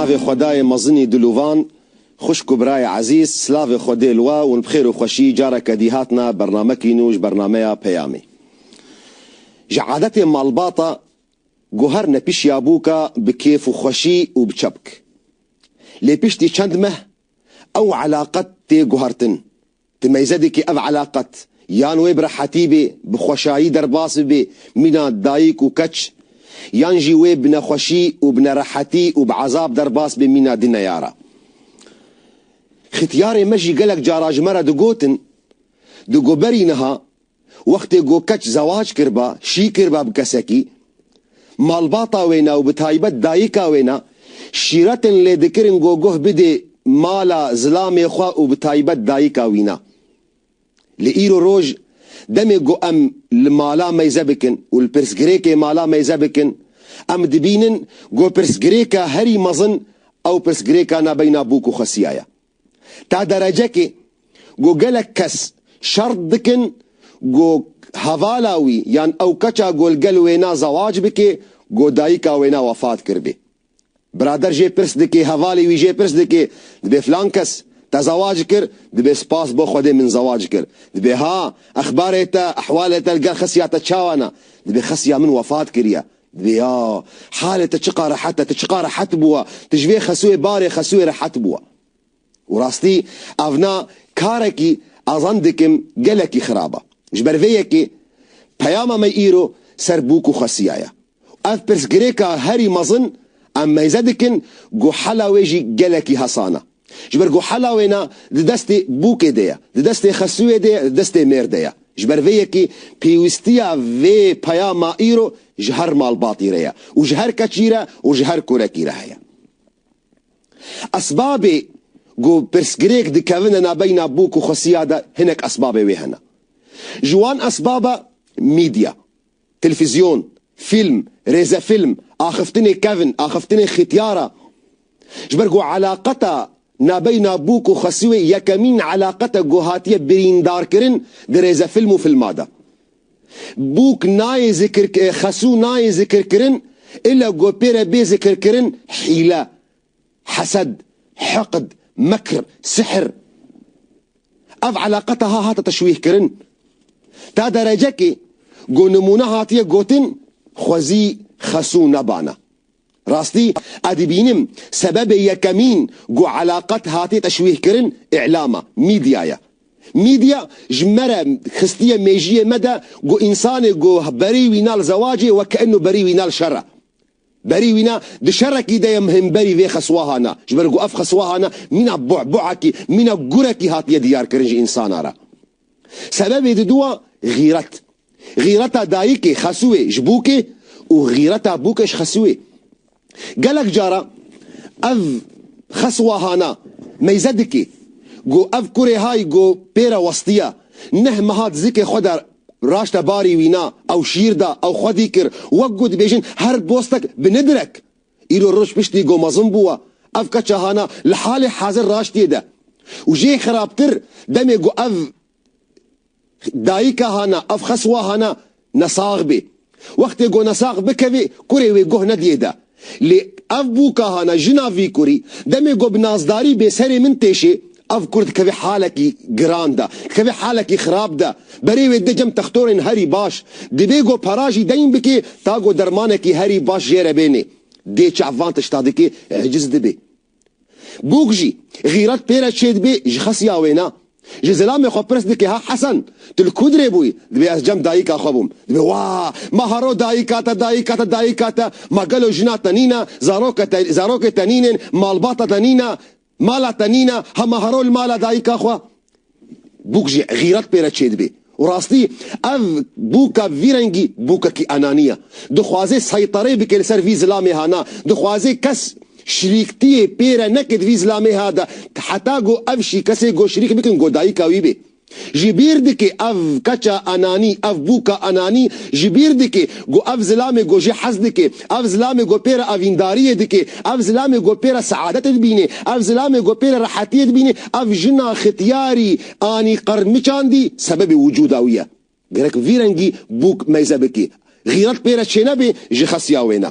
navê xwedayê mezinî dilûvan, xwişk û birayê ezîz silavê xwe dê li we û bi xêr û xweşî careke dî hatine bernamekî nû ji bernameya Peyamê. Ji adetê malbata Ku her ne pişiya bû ka bi kêf û xweşî û bi çepk. Lê piştî çend meh ew elaqet tê guhertin. Ti meyzedê ke ev elaqet yan wê bi rehetî bê, bi xweşayî derbas bibe mîna dayik û keç, yan jî wê bi nexweşî û bi nerehetî û bi ezab derbas be mîna di neyara. Xîtyarê me jî gelek cara ji me re digotin, di goberî niha Wextê ku keç zewac kiriba, şî kiriba bi kesekî, malbata wê na û bi taybet dayika wê na şîretin lê dikirin ku guh bidê mala zilamê xwe û bi taybet dayika wî na. Lê îro roj demê ku em li mala meyze bikin û li pirsgirêkê mala meyze bikin, em dibînin ku pirsgirêka herî mezin ew pirsgirêka na beyna bûk û xwesiya ye. ta derecekê ku gelek kes şert dikin ku hevala wî yan ew keça ku li gel wê ne zewac bike ku dayika wê ne wefat kiribê. Birader jê pirs dike, hevalê wî jê pirs dike, dibê filan kes te zewac kir? Dibê spas bo Xwedê min zewac kir. Dibê ha, exbarê te, ehwalê te li gel xesiya te çawa ne? Dibê xesiya min wefat kiriye. Viya, halê te çiqa rehet e, tu çiqa rehet bûwa, tu ji vê xesûyê barê xesûyê rehet bûwa. Û rastî ev na karekî ez an dikim gelekî xirab e. Ji ber vê yekê peyama me îro ser bûk û xesîya ye. Û ev pirsgirêka herî mezin em meyze dikin ku hela wê jî gelekî hesan e. Ji ber ku hela wê na di destê bûkê de ye, di destê xesûyê de ye, di destê mêr de ye. Ji ber vê yekê pêwîstiya vê peyama îro ji her malbatî re ye û ji her keçî re û ji her kurekî re heye. Esbabê ku pirsgirêk dikevine nabeyna bûk û xesûya de hinek esbabê wê hene. Ji wan esbab e mîdya. Televîzyon, fîlm, rêzefîlm, axiftinê kevn, axiftinê xîtyar a. Ji ber ku elaqeta nabeyna bûk û xesûê yekemîn elaqet e ku hatiye birîndarkirin di rêzefîlm û fîlma de. Bûk nayê zikir, xesû nayê zikirkirin, île ku pê re bê zikirkirin hîle, Hesed, hiqd, mekr, sihr. Ev eleqe taha hate teşwîhkirin. Ta derecekê ku nimûne hatiye gotin xwezî xesû nebana. Rastî ez dibînim sebebê yekemîn ku eleqet hatiye teşwîhkirin îlam e, mîdya ye. Mîdya ji me re xistiye mêjiyê me de ku însanê ku berî wî na li zewacê wek'eno berî wî na li şer e. Berî wî na, di şerekî de ye em hemberî vê xeswaha na. Ji ber ku ev xeswaha na mîna bu'bu'ekî, mîna gurekî hatiye diyarkirin ji însana re. Sebebê didu a xîret. Xîreta dayikê xesûê ji bûkê û xîreta bûkê ji xesûê. Gelek cara ev xeswaha na meyze dikê. Go ev kurê hay go pêre westiya. Neh meha di zikê xwe de Raşte barî wî na, ew şîr da, ew xwedî kir. Wek ku dibêjin her bostek bi ni direk. Îro roj piştî ku mezin bûwa, ev keça hana li halê hezir raştiyê de. Û jê xirabtir, demê ku ev dayika hana, ev xeswa hana, nesax bê. Wextê ku nesax bikevê, kurê wê guh nediyê de. Lê ev bû ka hana jina vî kurî. Demê ku bi nazdarî bê serê min têşê, ev kur dikevê halekî giran de, dikevê halekî xirab de. Berê wê de cem textorên herî baş. Dibê ku para jî deyn bikê ta ku dermanekî herî baş jê re bênê. Dê çav van tişta dikê, eciz dibê. Bûk jî, xîret pê re çêdibê ji xesiya wê ne. Ji zilamê xwe pirs dike ha Hesen, tu li ku dirê bûyî? Dibê ez cem dayîka xwe bûm. Dibê wa, ma haro dayîka te, dayîka te, dayîka te, ma gelo jina te nîne, zaroka te, zarokê te nînên, malbata te nîne, mala te nîne, ha ma haro li mala dayîka xwe? Bûk jî xîret pê re çêdibê. Û rastî ev bûka vî rengî bûkekî enanî ye. Dixwaze seyterê bike li ser vî zilamêha na. Dixwaze kes şirîktiyê pê re neke di vî zilamêha de heta go ev şî kesê go şirîk bikin go dayika wî bê. Ji bîr dike ev keça enanî, ev bûka enanî ji bîr dike go ev zilamê go jê hez dike. Ev zilamê ku pê re evîndariyê dike, ev zilamê ku pê re seadetê dibîne, ev zilamê ku pê re rehetiyê dibîne, ev jina xityarî anî qirmiçandî sebebê wicûda wî ye. Gerek vî rengî bûk meyze bike, xîret pê re çênebe ji xesiya wê ne.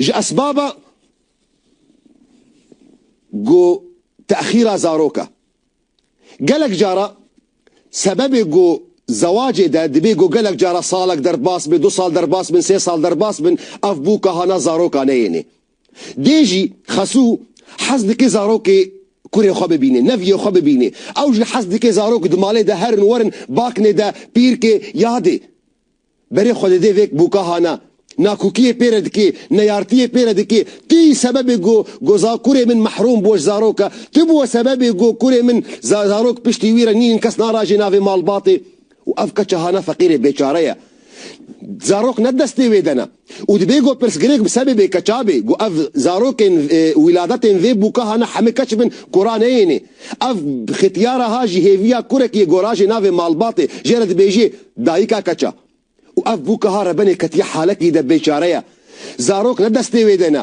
Ji esbaba ku texîra zarok e. Gelek cara sebebê ku zewacê de dibê ku gelek cara salek derbas bin, du sal derbas bin, sê sal derbas bin, ev bû ka hana zaroka neyênê. Dê jî Xesû hez dike zarokê kurê xwe bibîne, neviyê xwe bibîne. Ew jî hez dike zarok di malê de herin werin, baknê de, pîrkê, ya dê. Berê xwedêdê vêk bûka hana. Na kûkiyê pê re dikê, neyartiyê pê re dikê. Ti yî sebebê go, go za kurê min mehrûm bû ji zaroka. Ti bûwe sebebê go kurê min za zarok piştî wî re nînin kes narajê navê malbatê. Û ev keça hana feqîrê bêçare ye. Zarok ne destê wê de ne. Û dibê ku pirsgirêk bi sebê bê ke çavê ku ev zarokên wîladetên vê bûka hane hemû keç bin kora neyêne. Ev xetiyara ha ji hêviya kurekî yê gorajê navê malbatê jê re dibêjê dayika keça. Û ev bûka ha rebenê ketiye halekî de bêçare ye. Zarok ne destê wê de ne.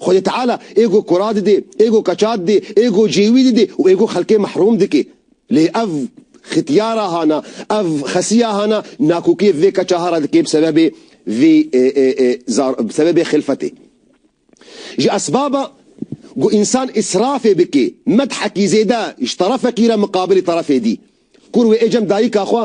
Xwedê Teala ê ku kura didê, ê ku keça didê, ê ku cêwî didê û ê ku xelkê mehrûm dike. Lê ev xitiyara hana, ev xesiya hana nakokiyê vê keça hara dike bi sebebê vê bi sebebê xilfetê. Ji esbaba ku însan îsrafê bike medhekî zêde ji terefekî re miqabilê terefê dî. Kur wê ê cem dayika xwe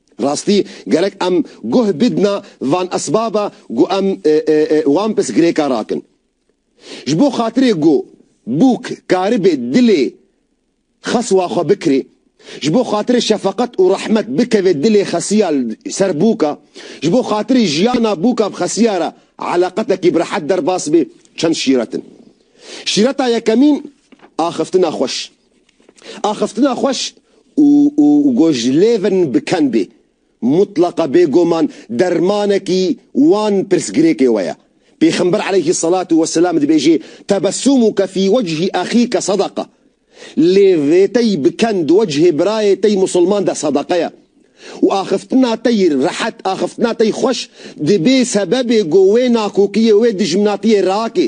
Rastî gerek em guh bidna van esbaba ku em wan pis girêka rakin. Ji bo xatirê ku bûk karibê dilê xes wa xwe bikirê, ji bo xatirê şefeqet û rehmet bikevê dilê xesiya li ser bûka, ji bo xatirê jiyana bûka bi xesiya re eleqetekî bi rehet derbas bê çend şîret in. Şîreta yekemîn, axiftina xweş. Axiftina xweş û û gojlêvin bi ken bê. Mutlaqa bêgoman dermanekî wan pirsgirêkê we ye. Pêxember eleyhî selatû we selam dibêjê, Tebessûmuke fî wechî exîke sedaqa. Lêvê te yî bi ken di wechê birayê te yî musulman de sedaqa ye. Û axiftina te yî rehet, axiftina te yî xweş dibê sebebê ku wê nakokiyê, wê dijminatiyê rakê.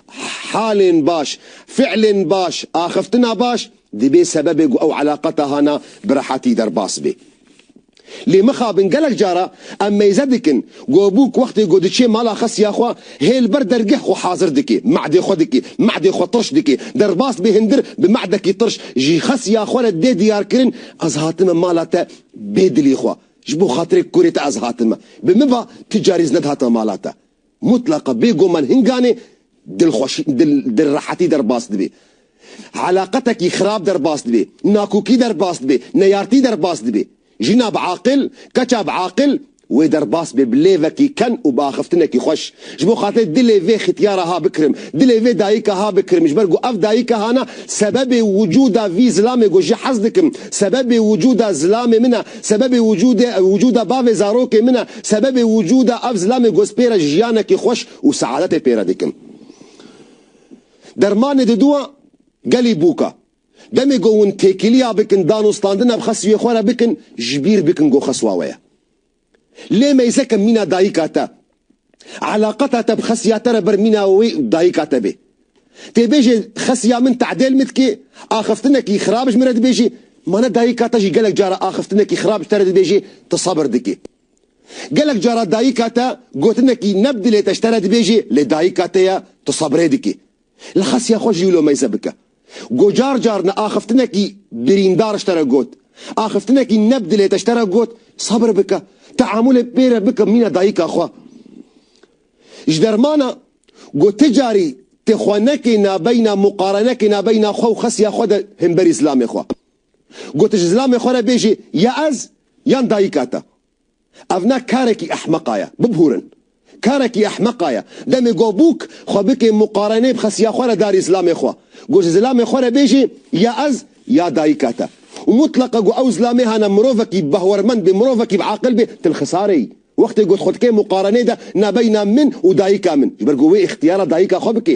Halên baş, fiilên baş, axiftina baş dibê sebebê ku ew eleqa te hana bi rehetî derbas bê. Lê mixabin gelek cara em meyze dikin ku bûk wextê ku diçê mala xesiya xwe hê li ber dergeh xwe hazir dike, me'dê xwe dike, me'dê xwe tirş dike, derbas bê hindir bi me'dekî tirş ji xesiya xwe re dê diyarkirin ez hatime mala te bê dilê xwe, ji bo xatirê kurê te ez hatime. Bi min ve tu carî ez nedihatime mala te. Mutlaqa bê goman hinganê dilxweşî, dil, dilrehetî derbas dibê. Elaqetekî xirab derbas dibê, nakokî derbas dibê, neyartî derbas dibê. Jina bi aqil, keça bi aqil wê derbas bê bi lêvekî ken û bi axiftinekî xweş. Ji bo xatirê dilê vê xityara ha bikirim, dilê vê dayika ha bikirim ji ber ku ev dayika hana sebebê wicûda vî zilamê ku ji hez dikim, sebebê wicûda zilamê min e, Sebebê wicûdê ew wicûda bavê zarokê min e, sebebê wicûda ev zilamê gozpêre jiyanekî xweş û seadetê pêre dikim. Dermanê diduwa gelî bûka. Demê ku hûn têkiliya bikin danûstandina bi xesûyê xwe re bikin, ji bîr bikin ku xesûa we ye. Lê meyzeke mîna dayika te, Eleqata te bi Xesiya te re ber mîna wê û dayika te bê. Têbêjê Xesiya min tedêl min dike, axiftinekî xirab ji min re dibêjî, ma ne dayika te jî gelek cara axiftinekî xirab ji te re dibêjî, tu sebir dikî. Gelek cara dayika te gotinekî ne bi dilê te ji te re dibêjî, lê dayika te ye, tu sebrê dikî. Li Xesiya xwe jî wilo meyze bike. Go car car ne axiftinekî birîndar ji te re got, axiftinekî ne bi dilê te ji te re got, Sebir bike, teamûlê pê re bike mîna dayika xwe. Ji dermana Go ti carî tê xwe nekê nabeyna muqarenekê nabeyna xwe û Xesiya xwe de himberî zilamê xwe. Go ti ji zilamê xwe re bêjê ya ez yan dayika te. Ev ne karekî ehmeqa ye. Bibûrin. Karekî ehmeqa ye. Demê got bûk xwe bikê muqarenê bixe siya xwe re darî zilamê xwe. Got ji zilamê xwe re bêjê ya ez ya dayika te. Û mutleqa got ew zilamê hene mirovekî bi behrmend bê, mirovekî bi aqil bê, til xisare yî. Wextê got xwe dikê muqarenê de nabeyna min û dayika min. Ji ber ku wê îxtiyara dayika xwe bikê.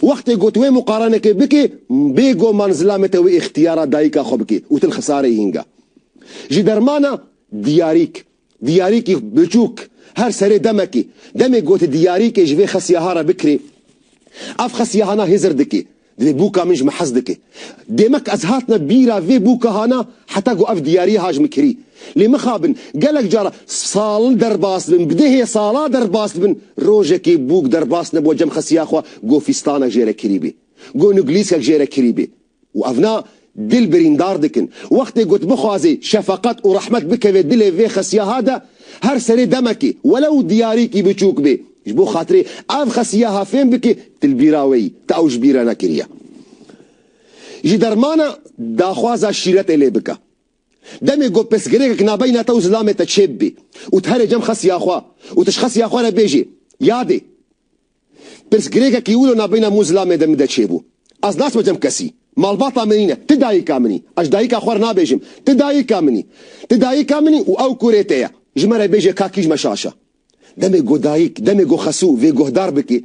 Wextê got wê muqaranekê bikê, bê goman zilamete wê îxtiyara dayika xwe bikê û til xisarê hînga. Ji dermana diyarîk, diyarîkî biçûk, her serê demekê, demê gotê diyarîkê ji vê xesiyaha re bikirê, ev xesiyahana hêzir dikê, divê bûka min ji min hez dikê. Demek ez hatime bîra vê bûka hana heta ku ev diyariya ha ji min kirî. Lê mixabin, gelek cara sal derbas dibin, bi dehê sala derbas dibin, rojekê bûk derbas nebûwa cem xesiya xwe ku fîstanek jê re kirîbî, ku nuglîskek jê re kirîbî. Û ev na dil birîndar dikin. Wextê ku tu bixwazî şefeqet û rehmet bikeve dilê vê xesiya ha de, her serê demekê, welew diyarîkî biçûk bê, Ji bo xatirê ev xesiyaha fêm bike tu li bîra wê yî, tu ew ji bîr re nekiriye. Ji dermana daxwaza şîretê lê bike. Demê ku pirsgirêkek nabeyna te û zilamê te çê bibe û tu here cem xesiya xwe û tu ji xesiya xwe re bêjê, Yadê, pirsgirêkekî wilo nabeyna min û zilamê de min de çêbû. Ez naçme cem kesî. Malbata min nîne. Tu dayika min î. Ez ji dayika xwe re nabêjim. Tu dayika min î. Tu dayika min î û ew kurê te ye. Ji me re bêje ka kî ji me şaş e. Demê ku dayik, demê ku Xesû vê guhdar bike,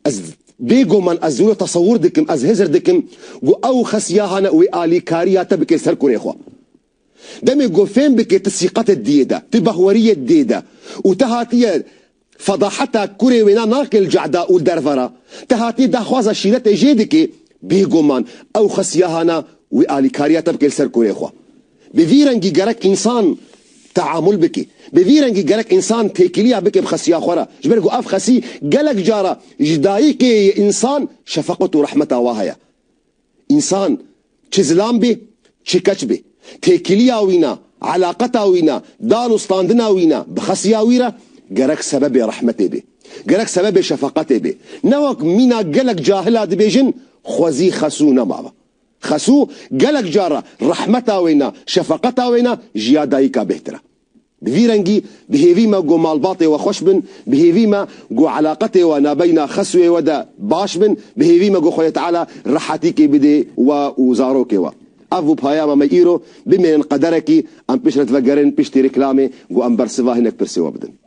ez bêguman ez wilo tesewur dikim, ez hizir dikim ku ew û Xes ya hane û wê alîkarîya te bike ser kurê xwe. Demê ku fêm bike ti sîqetê diyê de, ti bahweriyê diyê de û te hatiye fedaheta kurê wêna nake li cehda û li derve re, te hatiye daxwaza şîretê jê dikê, bêguman ew Xes ya hane û wê alîkarîya te bike li ser kurê xwe. Bi vî rengî gerek însan teamul bike. Bi vî rengî gerek însan têkiliya bike bi xesiya xwe re. Ji ber ku ev xesî gelek cara ji dayikê yê însan şefeqet û rehmeta wa heye. Însan çi zilam bê, çi keç bê. Têkiliya wî ne, elaqeta wî ne, dan û standina wî ne bi xesiya wî re gerek sebebê rehmetê bê. Gerek sebebê şefeqetê bê. Ne wek mîna gelek cahil a dibêjin xwezî xes û nemav e. Xesû gelek car e rehmeta wê ne, şefeqeta wê ne ji ya dayika bêhtir e. Bi vî rengî bi hêvî me ku malbatê we xweş bin, bi hêvî me ku eleqetê we nabeyna Xesûyê we de baş bin, bi hêvî me ku Xwedê Teala rehetîkê bidê we û zarokê we. Ev bû peyama me îro, bimînin qederekî em pişt re divegerin piştî reklamê ku em bersiva hinek pirsê we bidin.